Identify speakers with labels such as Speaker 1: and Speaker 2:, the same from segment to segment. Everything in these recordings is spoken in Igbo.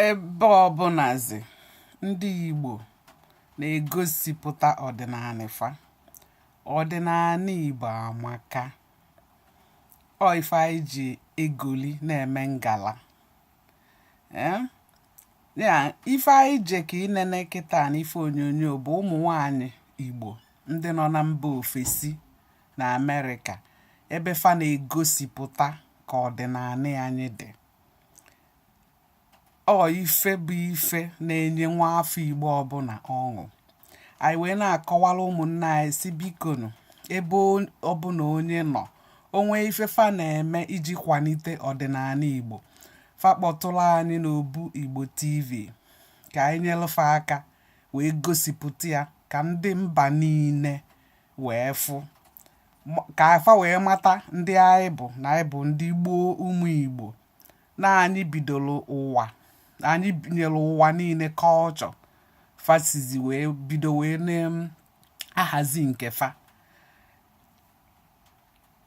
Speaker 1: ebe ọbụnazi ndị Igbo na-egosipụta ọdịnaanị fa ọdịnaanị Igbo amaka ọ ife anyị ji egoli na-eme ngala eh? ya ife anyị je ka inene kịta na ife onyonyo bụ ụmụ nwanyị Igbo ndị nọ na mba ofesi na Amerịka ebe fa na-egosipụta ka ọdịnaanị anyị dị ọ ife bụ ife na-enye nwa afọ Igbo ọbụna ọṅụ anyị wee na-akọwara ụmụnne anyị sị bikonu ebe ọbụna onye nọ o nwee ife fa na-eme iji kwanite ọdịnaanị Igbo fa kpọtụlụ anyị n'obu Igbo TV ka anyị nyelụ fa aka wee gosipụta ya ka ndị mba niine wee fụ ka fa wee mata ndị anyị bụ na anyị bụ ndị gboo ụmụ igbo na anyị bidoro ụwa anyị nyelu ụwa niine culture fa sizi wee bido wee na-ahazi nke fa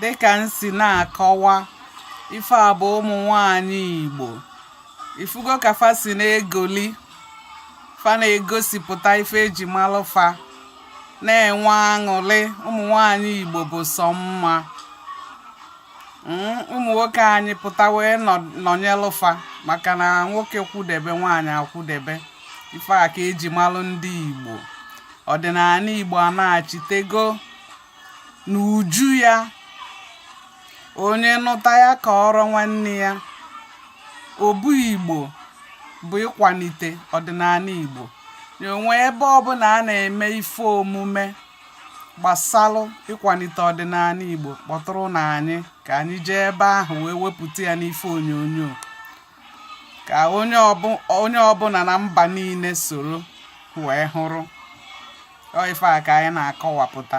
Speaker 1: dịka m si na-akọwa ife a bụ ụmụ nwanyị Igbo ifugo ka fa si na-egoli fa na-egosipụta ife e ji malụ fa na-enwe aṅụlị ụmụ nwanyị Igbo bụ sọ mma hmm, ụmụ nwoke anyị pụta wee nọnyelụ fa maka na nwoke kwụdebe nwaanyị akwụdebe ife a ka e ji malụ ndị Igbo ọdịnaanị Igbo anachitego n'uju ya onye nụta ya kọọrọ nwanne ya obu Igbo bụ ịkwanite ọdịnaanị Igbo o nwee ebe ọbụna a na-eme ife omume gbasalụ ịkwanite ọdịnaanị Igbo kpọtụrụnụ anyị ka anyị jee ebe ahụ wee wepụta ya n'ife onyonyo ka onye ọbụna na mba niine soro wee hụrụ ọ ife a ka anyị na-akọwapụta